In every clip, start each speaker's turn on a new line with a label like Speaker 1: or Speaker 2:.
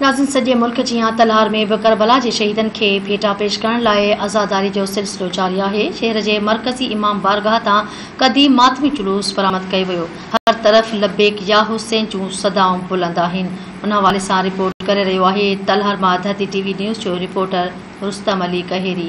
Speaker 1: ناظرين سڄي ملڪ جيان تلهار ۾ به ڪربلا جي شهيدن کي ڀيٽا پيش ڪرڻ لاء عزاداري جو سلسلو جاري آهي، شهر جي مرڪزي امام بارگاهه تان قديم ماتمي جلوس برآمد ڪيو ويو، هر طرف لبيڪ يا حسين جون صدائون بلند آهن، ان حوالي سان رپورٽ ڪري رهيو آهي تلهار مان ڌرتي ٽي وي نيوز جو رپورٽر رستم علي ڪهيري.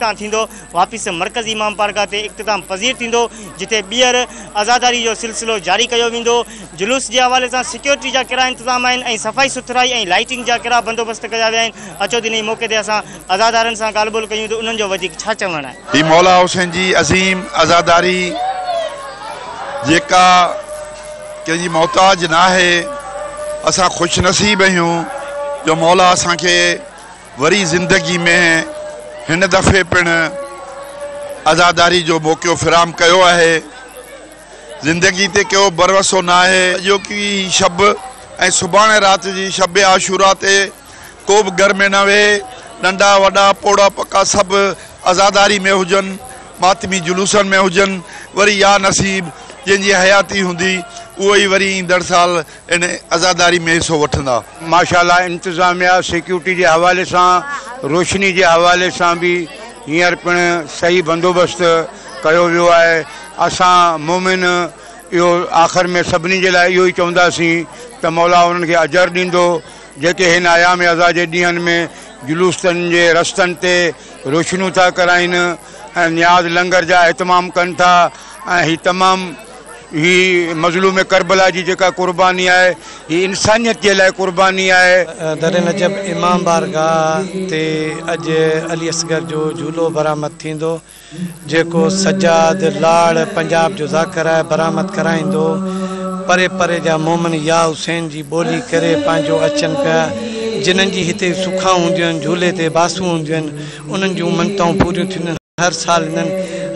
Speaker 2: تان ٿيندو واپس مرڪزي امام بارگاهه تي اختتام پذير ٿيندو جتي ٻيهر عزاداري جو سلسلو جاري ڪيو ويندو جلوس جي حوالي سان سيڪيورٽي جا ڪهڙا انتظام آهن ۽ صفائي سٿرائي ۽ لائيٽنگ جا ڪهڙا بندوبست ڪيا ويا آهن اچو انهي موقعي تي اسان عزادارن سان ڳالهه ٻولهه ڪيون ته انهن جو وڌيڪ ڇا چوڻ آهي. هي مولا حسين جي
Speaker 3: عظيم عزاداري جيڪا ڪنهن جي محتاج ناهي اسان خوش نصيب اهيون جو مولا اسان کي وري زندگي ۾ هن دفعي پڻ عزاداري جو موقعو فراهم ڪيو آهي. زندگي تي ڪيو ڀروسو ناهي. اڄوڪي شب ۽ سڀاڻي رات جي شب عاشوراء تي ڪو به گهر ۾ نه ويهي. ننڍا وڏا پوڙها پڪا سڀ عزاداري ۾ هجن، ماتمي جلوسن ۾ هجن. وري يا نصيب جنهن جي حياتي هوندي اهو ئي وري ايندڙ سال ان عزاداري ۾ حصو وٺندا. ماشاءالله
Speaker 4: انتظاميا سيڪيورٽي جي حوالي سان روشني جي حوالي سان به هينئر پڻ صحيح بندوبست ڪيو ويو آهي اسان مؤمن اهو آخر ۾ سڀني جي لاء اهو ئي چونداسين ته مولا انهن کي اجر ڏيندو جيڪي هن ايام عزا جي ڏينهن ۾ جلوس تن جي رستن تي روشنيون ٿا ڪرائين ۽ نياز لنگر جا اهتمام ڪن ٿا ۽ هي تمام هي مظلوم ڪربلا جي جيڪا قرباني آهي هي انسانيت جي لاء قرباني آهي. در نجف
Speaker 5: امام بارگاهه تي اڄ علي اصغر جو جهولو برآمد ٿيندو جيڪو سجاد لاڙ پنجاب جو ذاڪر آهي برآمد ڪرائيندو پري پري جا مومن يا حسين جي ٻولي ڪري پنهنجو اچن پيا جنن جي هتي سکائون هونديون آهن جهولي تي باسون هونديون آهن انهن جون منتائون پوريون ٿينديون هر سال هنن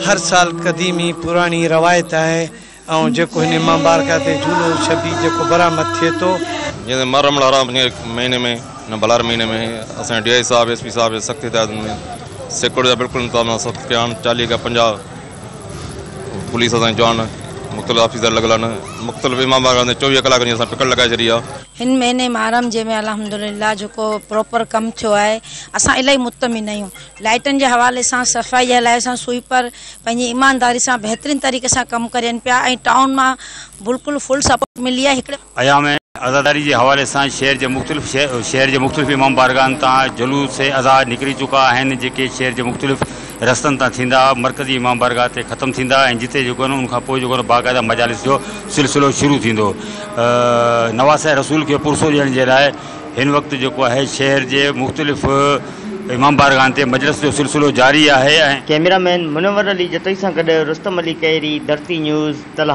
Speaker 5: هر سال قديمي پراڻي روايت آهي ۽ جيڪو هن ماء مبارڪه تي جھولو شبي جيڪو برآمد ٿئي ٿو. جيئن محرم
Speaker 6: الحرام جي مهيني ۾ ان بلاري مهيني ۾ اسان جي ڊي آء صاحب ايس پي صاحب جي سخت هدايتن ۾ سيڪورٽي جا بلڪل انتظام اسان سخت ڪيا آهن چاليهه کان پنجاهه پوليس اسان جي جوان مختلف آفيسر لڳل آهن مختلف امام باڙا تي چوويهه ڪلاڪن جي اسان پڪڙ لڳائي ڇڏي آهي. هن مهيني محرم
Speaker 7: جي ۾ الحمدلله جيڪو پروپر ڪم ٿيو آهي اسان الاهي مطمئن آهيون لائيٽن جي حوالي سان صفائي جي حلائي سان سوئيپر پنهنجي ايمانداري سان بهترين طريقي سان ڪم ڪرين پيا ۽ ٽائون مان بلڪل فل سپورٽ ملي آهي هڪڙي ايام عزاداري
Speaker 2: جي حوالي سان شهر جي مختلف شهر جي مختلف امام بارگاهن تان جلوس عزا نڪري چڪا آهن جيڪي شهر جي مختلف رستن تان ٿيندا مرڪزي امام بارگاهه تي ختم ٿيندا ۽ جتي جيڪو ان کان پوء جيڪو باقاعده مجالس جو سلسلو شروع ٿيندو نواسه رسول کي پرسو ڏيڻ جي لاء هن وقت جيڪو آهي شهر جي مختلف امام بارگاهن تي مجلس جو سلسلو جاري آهي ۽. ڪيميرا مين منور علي جتوئي سان گڏ رستم علي ڪهيري، ڌرتي نيوز، تلها.